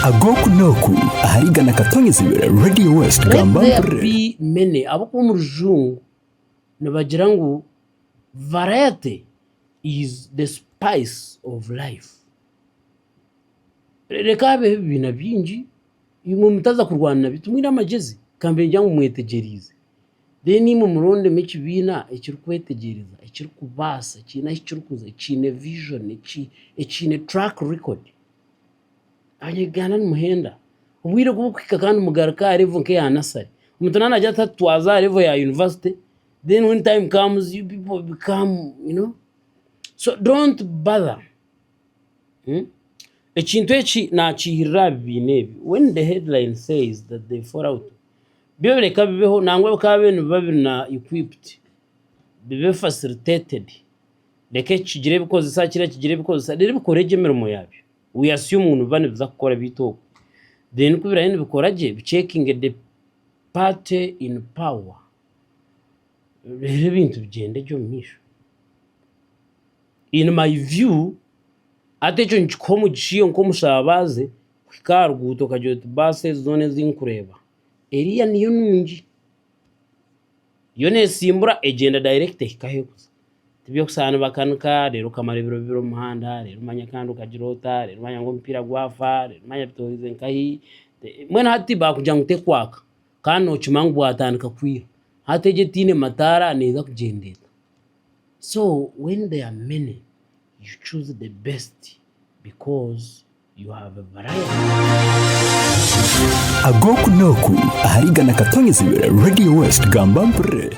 Ag'oku n'oku ahari igana katonyezibwe Radio West Let gamba there mpurire. be many ahabw'okuba omu rujungu nibagira ngu variety is the spice of life. Reka habeho ebibiina bingi imwe mutaza kurwana nabyo timwine amagezi kambe ngira ngu mwetegyereize. Then imwe murondemu ekibiina ekirikwetegyereza, ekirikubaasa, ekiine ahu kirikuza, ekiine vision, ekiine track record. Abanya-Uganda nimuhenda. Obwire obu burikuhika kandi mugaruke aha level nk'eya nursery. Omuntu naaba naagira ati hati twaza aha level ya university, then when time comes you people become you know, so don't bother. Ekintu eki nakiihirira aha bibiina ebi when the headline says that they fall out byo reka bibeho nangwa bikaba byo nibiba biri na equipped bibe facilitated reka eki kigire ebikozesa kiriya kigire ebikozesa reero bikore gye emirimo yaabyo we assume ngu nibiba nibiza kukora beitu oku then ku birabe nibikora gye bi checkinge the party in power reero ebintu bigyende gye omu maisho. In my view hati ekyo nikikuha omugisha iwe nk'omushabaze kuhika aha ruguuto okagira oti baasi ezi zoona ezi nkureeba eriya niyo nungi. Yo nesimbura egyenda direct ehika ahu erikuza. Tibyokushaba nibakanika reero okamara ebiro bibiri omu muhanda reero manya kandi okagira ota reero manya ngu omupiira gwafa reero manya bitoorize nkahi. Mbwenu hati baakugira ngu terikwaka kandi nookimanya ngu bwatandika kwiha. Hati egyo etaine mataara neeza kugyenda eta? So when there are many you choose the best because you have a variety. Ag'oku n'oku ahari igana katonyezibwe Radio West gamba mpurire.